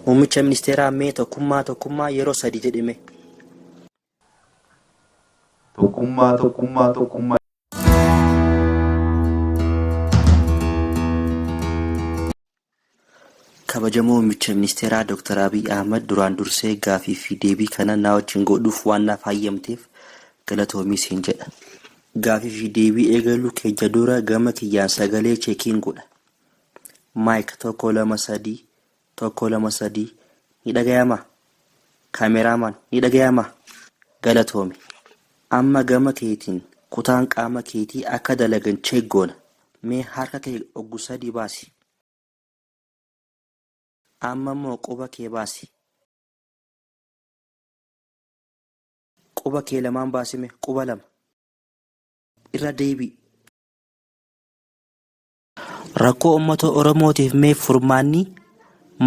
Muummicha ministeeraa mee tokkummaa tokkummaa yeroo sadi jedhi mee. Tokkummaa tokkummaa tokkummaa. Kabajamoo Muummicha Ministeeraa Dr. Abiy Ahmad duraan dursee gaafii fi deebii kana naa wajjin godhuuf waan naaf hayyamteef galatoomi siin jedha. Gaafii fi deebii eegaluu keenya dura gama kiyyaan sagalee cheekiin godha. Mic tokko lama sadii tokko lama sadii ni dhagayama camera man ni dhagayama galatoomi amma gama keetiin kutaan qaama keetii akka dalagan check goona mee harka kee oggu sadii baasi amma immoo quba kee baasi quba kee lamaan baasime quba lama irra deebii Rakkoo ummata Oromootiif mee furmaanni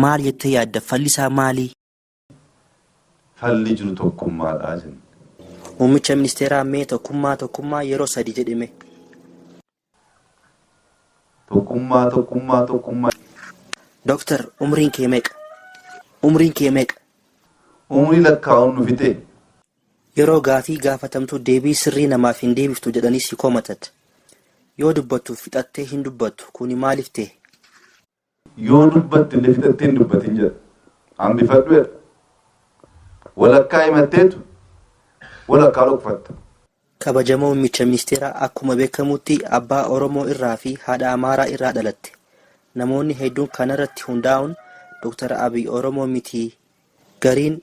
maal jettee yaadda? Falli isaa maali? Falli jiru tokkummaadha jenna. Muummicha Ministeeraa mee tokkummaa tokkummaa yeroo sadii jedhi mee. Tokkummaa tokkummaa tokkummaa. Doktar umriin kee meeqa? Umriin kee meeqa? Umrii lakkaa'uun nu fixee? Yeroo gaafii gaafatamtu deebii sirrii namaaf hin deebiftu jedhanii si komatat. Yoo dubbattu fixattee hin dubbattu. Kuni maaliif tahe? Yoo dubbatte illee fixattee hin dubbatin jedha. Hambifadhu jedha. Walakkaa himatteetu walakkaa dhokfatta. Kabajamoo Mummicha Ministeeraa akkuma beekamutti abbaa Oromoo irraa fi haadha Amaaraa irraa dhalatte. Namoonni hedduun kana irratti hundaa'uun Dr. Abiy Oromoo miti, gariin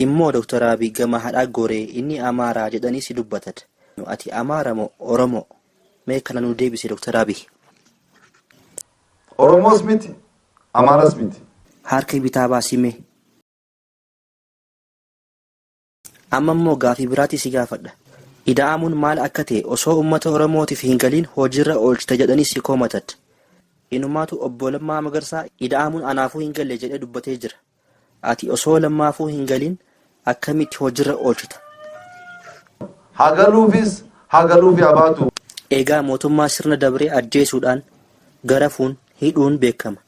Immoo Dr. Abiy gama haadhaa goree inni Amaaraa jedhaniis dubbatad. Ati Amaara moo Oromoo? Mee kana nuu deebisi Dr. Abiy. Oromoos miti, Amaaras miti. Haarka bitaa baasi mee. Amma immoo gaafii biraatii si gaafadha. Ida'amuun maal akka ta'e osoo ummata Oromootiif hin galiin hojiirra oolchita jedhanii si koomatad. Inumaatu Obbo Lammaa Magarsaa ida'amuun anaafuu hin galle jedhee dubbatee jira. Ati osoo Lammaafuu hin galiin akkamitti hojiirra oolchita? Haa galuufis haa galuufi haa baatu. Egaa mootummaa sirna dabree ajjeesuudhaan, garafuun, hidhuun beekama.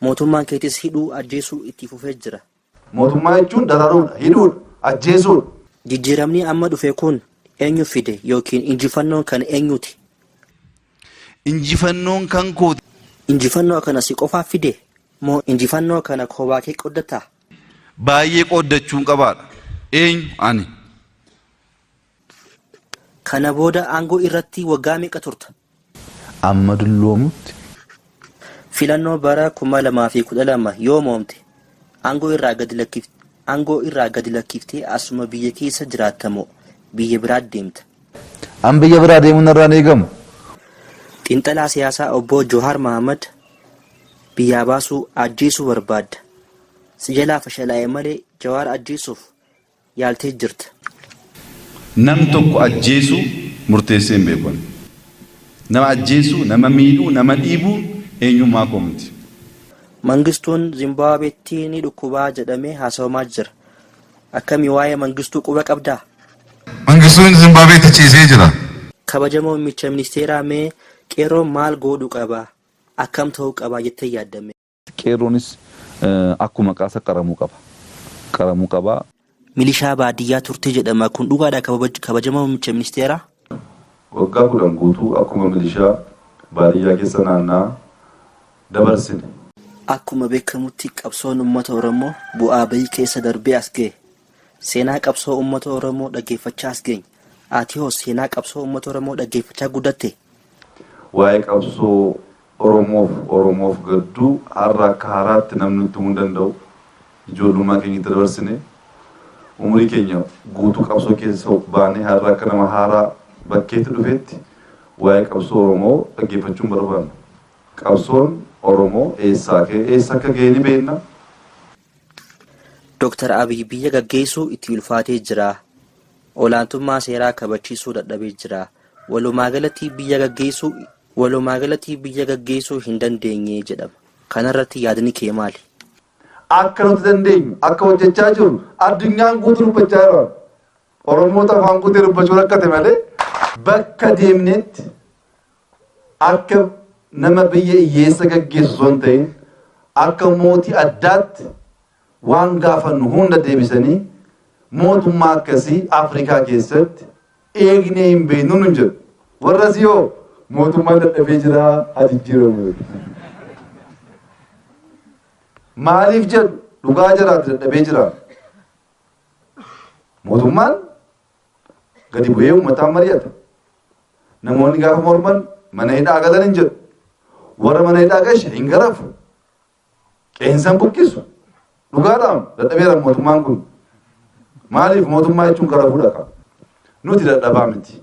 Mootummaan keetis hidhuu, ajjeesuu itti fufee jira. Mootummaa jechuun dararuudha, hidhuudha, ajjeesuudha. Jijjiiramni amma dhufe kun eenyu fide yookiin injifannoon kan eenyuti? Injifannoon kan kooti. Injifannoo kana si qofaaf fide? Moo injifannoo kana koobaakee qooddatta? Baay'ee qooddachuun qabaadha. Eenyu? Ani. Kana booda aangoo irratti waggaa meeqa turta? amma dulloomutti. Filannoo bara 2012 yoo mo'amte aangoo irraa gadi lakkifta, aangoo irraa gadi lakkiftee asuma biyya keessa jiraatta moo biyya biraatti deemta? An biyya biraa deemuun narraa hin eegamu. Xiinxalaa siyaasaa obboo Johaar Mahaammad biyyaa baasuu, ajjeesuu barbaadda. Si jalaa fashalaa'e malee Jawaar ajjeesuuf yaaltee jirta. Nam tokko ajjeesuu murteessee hin beeku ani. Nama ajjeesuu, nama miidhuu, nama dhiibuu eenyummaa koo miti. Mangistuun Zimbaabeetti ni dhukkubaa jedhamee haasawamaa jira. Akkami waa'ee Mangistuu quba qabdaa? Mangistuun Zimbaabeetti ciisee jira. Kabajamoo Mcha Ministeeraa mee Qeerroon maal goodhu qaba? Akkam ta'uu qaba jettee yaadda mee? Qeerroonis akkuma maqaasa qaramuu qaba. Qaramuu qaba. Milishaa baadiyyaa turte jedhama kun dhugaadha kabajamaa muummicha ministeeraa? Waggaa kudhan guutuu akkuma milishaa baadiyyaa keessa naanna'aa dabarsine. Akkuma beekamutti qabsoon uummata Oromoo bu'aa ba'ii keessa darbee as gahe. Seenaa qabsoo ummata Oromoo dhaggeeffachaa as geenye. Atihoo seenaa qabsoo ummata Oromoo dhaggeeffachaa guddattee? Waa'ee qabsoo Oromoof Oromoof gadduu har'a akka haaraatti namni nutti himuu hin danda'u. Ijoollummaa keenya itti dabarsine. Umurii keenya guutuu qabsoo keessa baanee har'a akka nama haaraa bakkeetti dhufeetti waa'ee qabsoo Oromoo dhaggeeffachuu hin barbaannu. Qabsoon Oromoo eessaa ka'ee eessa akka ga'e ni beekna. Dr. Abiy biyya gaggeessuu itti ulfaatee jira. Olaantummaa seeraa kabachiisuu dadhabee jira. Walumaagalatti biyya gaggeessuu Walumaagalatti biyya gaggeessuu hin dandeenye jedhama. Kanarratti yaadni kee maali? Akka nuti dandeenyu, akka hojjechaa jirru addunyaan guutuu dubbachaa jira. Oromootu afaan guutee dubbachuu rakkate malee bakka deemnetti Akka nama biyya iyyeessa gaggeessu osoo hin ta'in akka mootii addaatti waan gaafannu hunda deebisanii mootummaa akkasii Afrikaa keessatti eegnee hin beeknu nun jedhu. Warra asii hoo mootummaan dadhabee jira haa jijjiiramu jedhu. Maaliif jedhu dhugaa jiraatu dadhabee jira. Mootummaan Gadi bu'ee uummataan mari'ata. Namoonni gaafa morman mana hidhaa galan hin jedhu. Warra mana hidhaa gashe hin garafu. Qeensan buqqisu. Dhugaadhaan dadhabeera mootummaan kun. Maaliif mootummaa jechuun garafuudha qaba. Nuti dadhabaa miti.